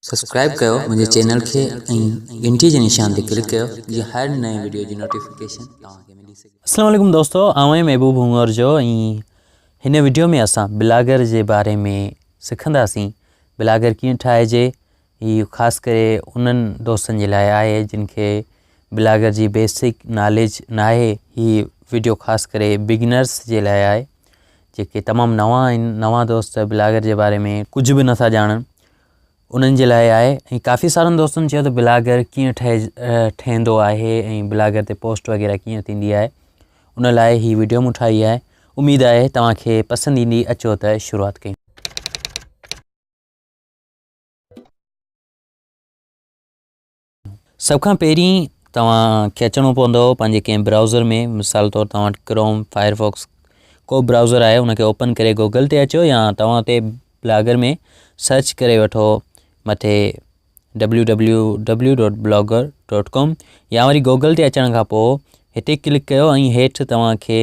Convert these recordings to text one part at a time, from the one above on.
subscribe ڪيو منهنجي channel کي ۽ گهنٽي جي نشان تي ڪلڪ ڪيو جيئن هر نئين وڊيو جي نوٽيفڪيشن توهان کي ملي سگهي السلام عليڪم دوستو آئون آهيان محبوب هونئر جو ۽ هن وڊيو ۾ اسان بلاگر جي باري ۾ سکنداسين بلاگر ڪيئن ٺاهجي هي خاص ڪري انهن دوستن جي لاء آهي جن کي بلاگر جي بيسڪ ناليج ناهي هي وڊيو خاص ڪري بگنرس جي لاء آهي جيڪي تمام نوان آهن نوان دوست بلاگر جي باري ۾ ڪجهه به نٿا ڄاڻن انهن جي لاء آهي ۽ ڪافي سارن دوستن چيو ته بلاگر ڪيئن ٺهي ٺهندو آهي ۽ بلاگر تي پوسٽ وغيرہ ڪيئن ٿيندي آهي ان لاء هي ويڊيو مون ٺاهي آهي اميد آهي توهان کي پسند ايندي اچو ته شروعات ڪيون سڀ کان پهرين توهان کي اچڻو پوندو پنهنجي ڪنهن برائوزر ۾ مثال طور توهان وٽ ڪروم فائر فاڪس ڪو به برائوزر آهي ان کي اوپن ڪري گوگل تي اچو يا توهان اتي بلاگر ۾ سرچ ڪري وٺو مٿي W W W dot Blogger dot com يا وري گوگل تي اچڻ کان پوء هتي ڪلڪ ڪيو ۽ هيٺ توهان کي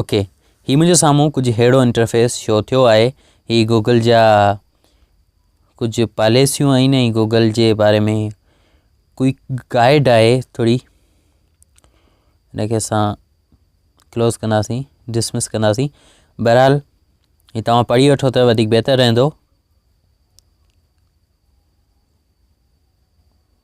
اوڪي هي منهنجي سامهون ڪجهه ههڙو انٽرفيس شو ٿيو آهي هي گوگل جا ڪجهه پاليسيون آهن ۽ گوگل جي باري ۾ ڪوئي گائيڊ آهي ٿوري هنکي اسان ڪلوز ڪنداسين ڊسمس ڪنداسين بهرحال هي توهان پڙهي وٺو ته وڌيڪ بهتر رهندو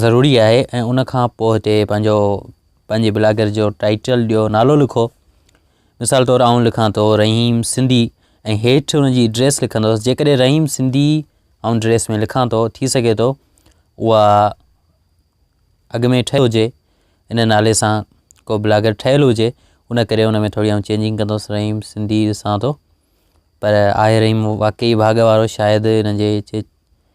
ضروري آهي ۽ ان کان پوء هتي پنهنجو پنهنجي بلاگر جو ٽائيٽل ڏيو نالو لکو مثال طور آئون لکان ٿو رحيم سنڌي ۽ هيٺ ان جي ڊريس لکندوس جيڪڏهن رحيم سنڌي آئون ڊريس ۾ لکان ٿو ٿي سگهي ٿو اها اڳ ۾ ٺهي هجي ان نالي سان ڪو بلاگر ٺهيل هجي ان ڪري ان ۾ ٿوري آئون چينجنگ ڪندوس رحيم سنڌي ڏسان ٿو پر آهي رحيم واقعي ڀاڳ وارو شايد هن جي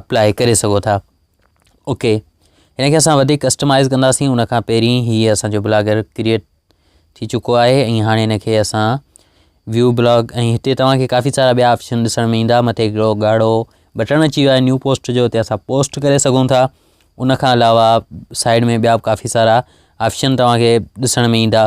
اپلاء ڪري سگهو ٿا اوڪي هن کي اسان وڌيڪ ڪسٽمائز ڪنداسين ان کان پهرين هي اسانجو بلاگر ڪريئيٽ ٿي چڪو آهي ۽ هاڻي هن کي اسان ويو بلاگ ۽ هتي توهان کي ڪافي سارا ٻيا آپشن ڏسڻ ۾ ايندا مٿي هڪڙو ڳاڙهو بٽڻ اچي ويو آهي نيو پوسٽ جو هتي اسان پوسٽ ڪري سگهون ٿا ان کان علاوه سائيڊ ۾ ٻيا به ڪافي سارا آپشن توهان کي ڏسڻ ۾ ايندا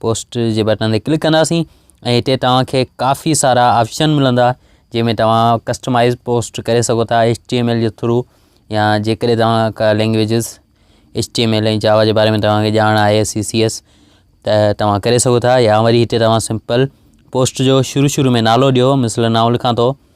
پوسٽ جي بٽن تي ڪلڪ ڪنداسين ۽ هتي توهان کي ڪافي سارا آپشن ملندا جنهن ۾ توهان ڪسٽمائز پوسٽ ڪري سگهو ٿا ايچ ٽي ايم ايل جي ٿرو يا جيڪڏهن توهان کا languages H T M L ۽ Java جي باري ۾ توهان کي ڄاڻ آهي سي سي ايس ته توهان ڪري سگهو ٿا يا وري هتي توهان سمپل پوسٽ جو شروع شروع ۾ نالو ڏيو مثلا ناو لکان ٿو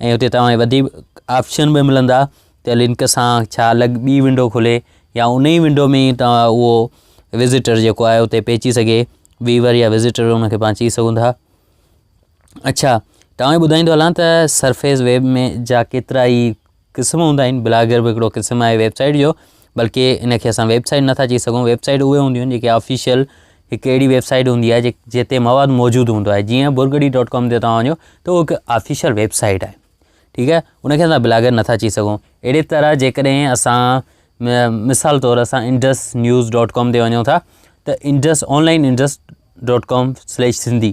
۽ اتي توهان کي وڌيڪ آپشن به ملندا ته لنڪ سان ڇا الڳ ٻي ونڊو کولي يا ان ئي ونڊو ۾ توهان اهو وزٽر جيڪو آهي اتي پيچي سگهي ويور يا وزٽر ان کي پاڻ چئي سگهون ٿا اڇا توهان کي ٻڌائيندو هلان ته سرفيس ويب ۾ جا ڪيترا ئي قسم هوندا آهن بلاگر به هڪڙو قسم آهي ويب سائيٽ جو بلڪه ان کي اسان ويب سائيٽ نٿا چئي سگهون ويب سائيٽ اهي هونديون آهن جيڪي آفيشل هڪ اهڙي ويب سائيٽ هوندي آهي جتي مواد موجود هوندو آهي جيئن برگڙي ڊاٽ ڪام تي توهان وڃو ته اهو هڪ آفيشل ويب سائيٽ آهي ٺيڪ آهي ان کي اسان بلاگر نٿا چئي سگھون اهڙي طرح جيڪڏهن اسان مثال طور اسان انڊس نيوز ڈاٹ ڪام تي وڃو ٿا ته Indus online Indus dot com slash Sindhi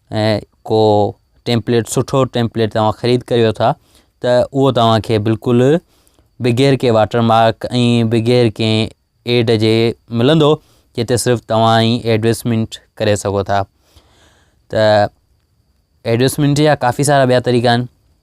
۽ ڪو ٽيمپليٽ سٺو ٽيمپليٽ توهان خريد ڪريو ٿا ته اهو توهان کي بلڪل بغير ڪنهن واٽر مارڪ ۽ بغير ڪنهن ايڊ جي ملندو جتي صرف توهان ئي ايڊورٽيزمينٽ ڪري سگهو ٿا ته ايڊورٽيزمينٽ جا ڪافي سارا ٻيا طريقا آهن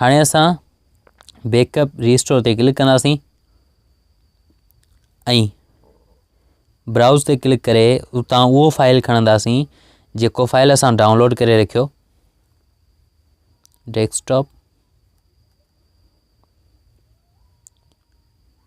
هاڻي اسان بيڪ اپ ريسٽور تي ڪلڪ ڪنداسين ۽ براؤز تي ڪلڪ ڪري اتان اهو فائل کڻنداسين جيڪو فائل اسان ڊائونلوڊ ڪري رکيو ڊيسڪٽاپ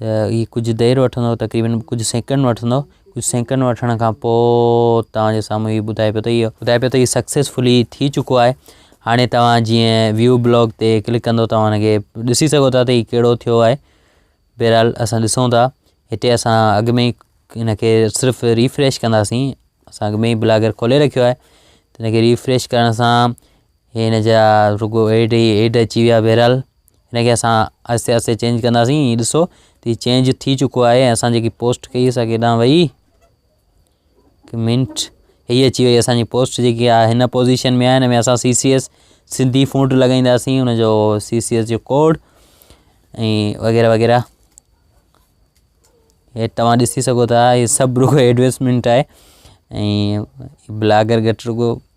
ته هي ڪجهه دير وٺندو تقريبن ڪجهه سيڪنڊ وٺندو ڪجهه سيڪنڊ وٺڻ کان پوء توهان جي سامهون هي ٻڌائي پيو ته هي ٻڌائي پيو ته هي سڪسيسفلي ٿي چڪو آهي هاڻي توهان جيئن ويو بلاگ تي ڪلڪ ڪندو توهان هن کي ڏسي سگهو ٿا ته هي ڪهڙو ٿيو آهي بهرحال اسان ڏسون ٿا هتي اسان اڳ ۾ ئي هن کي صرف ريفريش ڪنداسين اسان اڳ ۾ ئي بلاگر کولي رکيو آهي ته هن کي ريفريش ڪرڻ سان هن جا رڳو ايڊ هي ايڊ اچي ويا بهرحال هن کي اسان آهستي آهستي چينج ڪنداسين هي ڏسو ته چينج ٿي چڪو آهي ۽ اسان جيڪي پوسٽ ڪئي اسان ڪيڏانهن وئي منٽ هي اچي وئي اسانجي پوسٽ جيڪي آهي هن پوزيشن ۾ آهي هن ۾ اسان C C S Sindhi font لڳائينداسين هن جو سي سي ايس جو کوڊ ۽ وغيره وغيره هي توهان ڏسي سگهو ٿا هي سڀ رڳو ايڊورٽيزمنٽ آهي ۽ بلاگر گهٽ رڳو